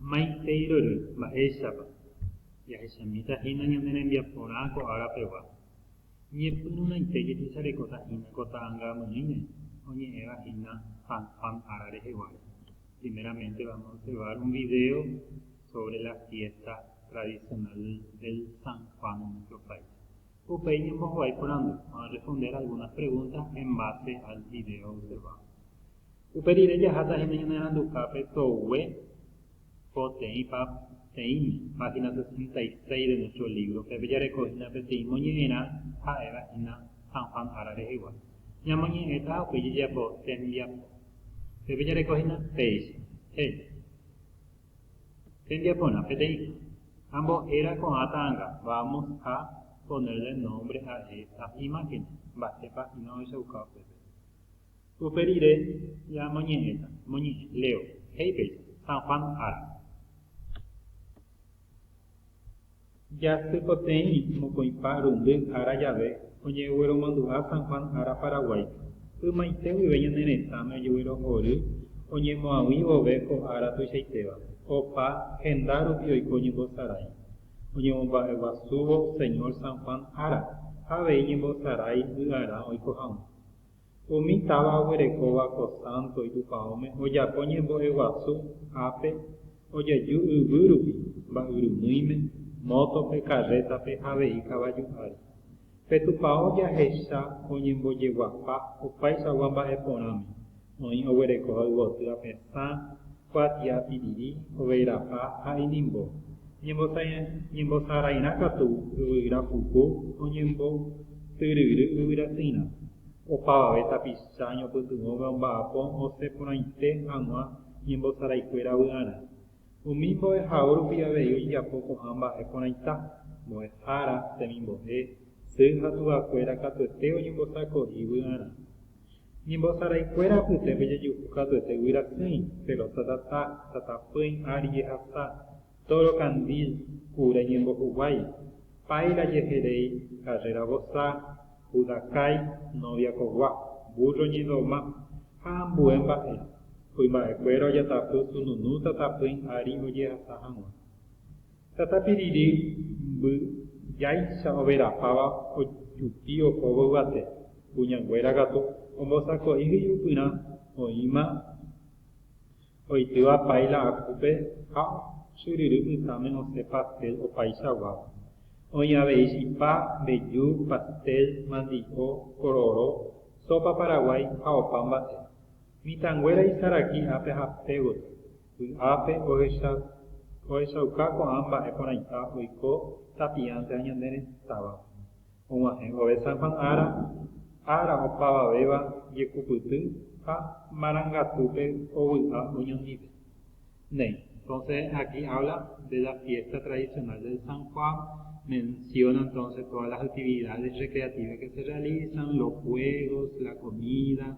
Maiteirory mba'éichapa jahechamíta hína ñane rembiaporã ko ára pegua. Ñepyrũraite jehecharekóta hína ko ta'angamyĩme oñe'ẽva hína San Juan ára reheguáre. Primeramente vamos a observar un video sobre la fiesta tradicional del San Juan en nuestro país. Upéi ñembohovái porandu, vamos a responder algunas preguntas en base al video observado. Upe rire jaháta hína ñaneranduhápe togue ko teĩ pa teĩme, página sesenta y seis de nuestro libro, pépe jareko hína peteĩ moñe'ẽrã ha'éva hína San Juan ára rehegua. Ñamoñe'ẽta ha upéi jajapo tembiapo. Pépe jareko hína péicha, héli. Tembiaporã, peteĩ. Ambo'éra ko'ã ta'anga, vamos a ponerle nombre a esta imagen, mba'épa hína ohechauka upépe. Upe rire ñamoñe'ẽta, moñe'ẽ, leo, he'i péicha, San Juan ára. Jasypoteĩ mokõipa rundy ára jave oñegueromandu'a San Juan ára Paraguáipe. Ymaite guive ñane retãme ojeguerohory oñemoag̃ui vove ko ára tuichaitéva, opa henda rupi oiko oñembosarái. Oñemomba'eguasúvo Señor San Juan ára ha avei ñembosarái vy'arã oiko hag̃ua. Umi táva oguerekóva ko sánto itupãóme ojako ñembo'eguasu ápe ojeju yvy rupi, mba'yrumýime, mótope, karrétape ha avei kavaju ári. Pe tupãó jahecha oñembojeguapa opaichagua mba'e porãme, oĩ oguerekóva yvoty apesã kuatia piriri oveirapa ha inimbo, ñembosarairã katu yvyra puku oñembotyryry yvyrasyrã, opavave tapicha ñopytyvõve omba'apo osẽ porãite hag̃ua ñembosaraikuéra vy'arã. Umi mbo'ehao rupi avei ojejapo ko'ã mba'e porãita, mbo'ehára, temimbo'e, sy ha tuvakuéra katuete oñembosako'i vy'arã. Ñembosaraikuéra apyte pejejuhu katuete guyrasyĩ, pelota tata, tata pỹi ári jehasa, tóro kandil, kure ñembohuguái, páila jeheréi, karréra vosa, pudakái, nóvia kogua, vúrro ñedoma, ha ambue mba'e. Kuimba'ekuéra ojatapy sununu tata pỹi ári ojehasa hag̃ua. Tatápi rire mby jáicha overapáva ojupi ohóvo yvate, kuñanguéra katu ombosako'i hyjupyrã oĩma oitýva pái la akúpe ha ochyryry pytãme osẽ pastel opaichaguáva. Oĩ avei chipa, mbeju, pastel, mandi'o, kororo, sópa paraguái ha opa mba'e. Mitãnguéra isaraki ápe ha pégotapa. Vy'ápe ohechauka ko'ã mba'e porãita oiko tapiánte ha ñane retãvape. Og̃uahẽ vove San Juan ára, ára opavavéva jekupyty ha marangatúpe ovy'a oñondive. Néi. Entonces aquí habla de la fiesta tradicional del San Juan, menciona entonces todas las actividades recreativas que se realizan, los juegos, la comida,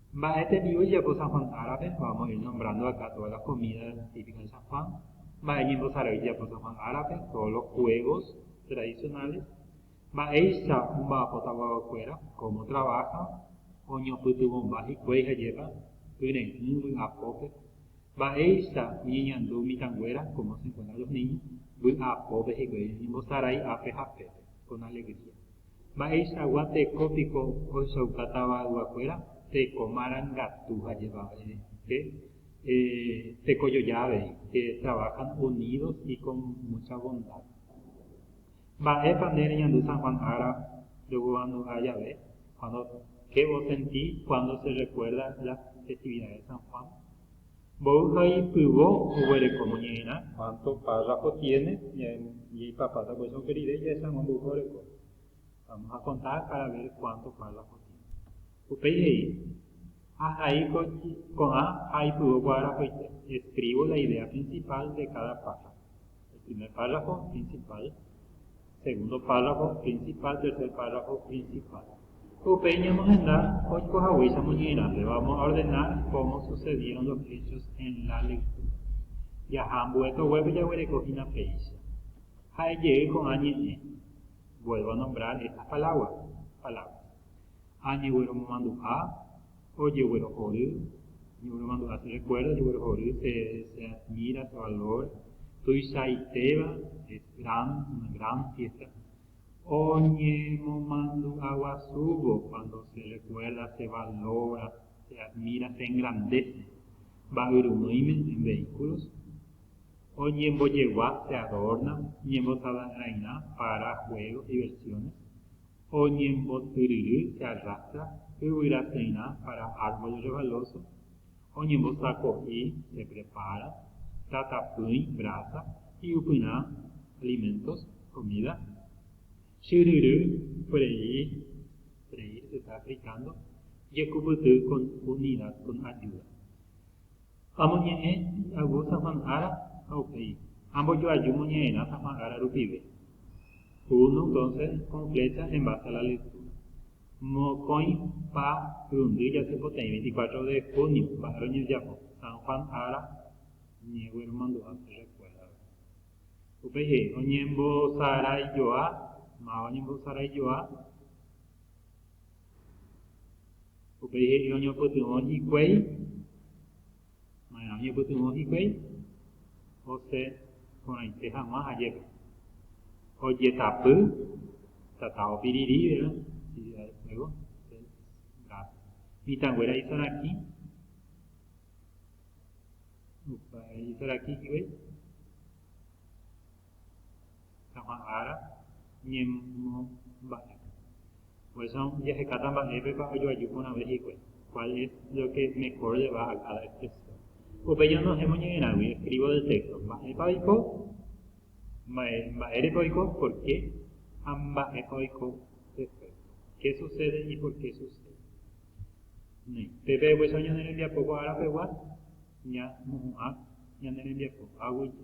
Mba'e tembi'u ijapo San Juan árape? Vamos a ir nombrando acá todas las comidas típicas de San Juan. Mba'e ñembosarai ijapo San Juan árape? Todos los juegos tradicionales. Mba'éicha omba'apóta guaguakuéra? Cómo trabajan? Oñopytyvõmba hikuái ha jepa, kyre'ỹ vy'apópe. Mba'éicha oñeñandu mitãnguéra? Cómo se encuentran los niños? Vy'apópe hikuái oñembosarai ápe ha pépe, con alegría. Mba'eichagua teko piko ohechauka tavayguakuéra? Teko marangatu ha jevavére, pe teko joja avei, que trabajan unidos y con mucha bondad. Mba'épa nde reñandu San Juan ára reguevandu'a jave? Cuando, Qué osenti cuando se recuerda las festividades de San Juan? Mboy ha ipyvo oguereko noñe'ẽrã. Cuánto párrafo tiene ñae papáta por eso oke rire jahechambo mboypa oreko. Vamos a contar para ver cuánto párrafo tiene. Upéi he'i, Ahai ko'ã ha aipyvo ko arapoite. Escribo la idea principal de cada párrafo. El primer párrafo, principal. Segundo párrafo principal, tercer párrafo principal. Upéi ñamohenda oikohaguéicha moñe'ẽrãpe, vamos a ordenar cómo sucedieron los hechos en la lectura. Jaha ambue toguépe jaguereko hína péicha. Ha'e jey ko'ã ñe'ẽ. Vuelvo a nombrar estas palabras. Añegueromomandu'a, ojeguerohory, ñemomandu'a che rekuérdo ojeguerohory, che admira, che valora, tuichaitéva, es gran, una gran fiesta, oñemomandu'a guasúvo cuando se recuerda, se valora, se admira, se engrandece mba'yrumýime en vehículos, oñembojegua, se adorna, ñembotava'erãirã para juegos, diversiones, Oñembotyryry carraca yvyra térã para árbol revaloso, oñembosako'i, se prepara, tatapỹi, brasa, hi'upyrã, alimentos, comida, chyryry, freír, freír se está fritando, jekupyty con unidad, con ayuda. Amoñe'ẽ hi'agu Safán ára ha upéi ambojoaju moñe'ẽrã Safán ára rupive. Uno entonces con flecha en base a la lectura. Mokõi pa rundy jasypoteĩ 24 de junio mba'e roñejapo San Juan ára ñegue romandu'a pe rekuérdagui. Upéi he'i oñembosaraijoa, máva oñembosaraijoa. Upéi he'i oñopytyvõ hikuái. Maerã oñepytyvõ hikuái? Ose porãite hag̃ua ajépa. Ojetapy tata opirirĩve Ciudad del Fuego, Gaza. Mitãnguéra isarakĩ, isarakĩ hikuái. Ha'ã ára ñemomba'e. Por eso jahekáta mba'épepa ojoaju porãve hikuái, cuál es lo que mejor le va a cada expresión. Upéi ñanohẽvo ñe'ẽrãgui, escribo del texto, mba'épa oiko, mba'e, mba'érepa oiko, por qué, ha mba'épa oiko después, qué sucede y por qué sucede. Néi, pe pe'upecha ñane rembiapo ko ára pegua, ña mo'ũ'ã ñane rembiapo, aguyje.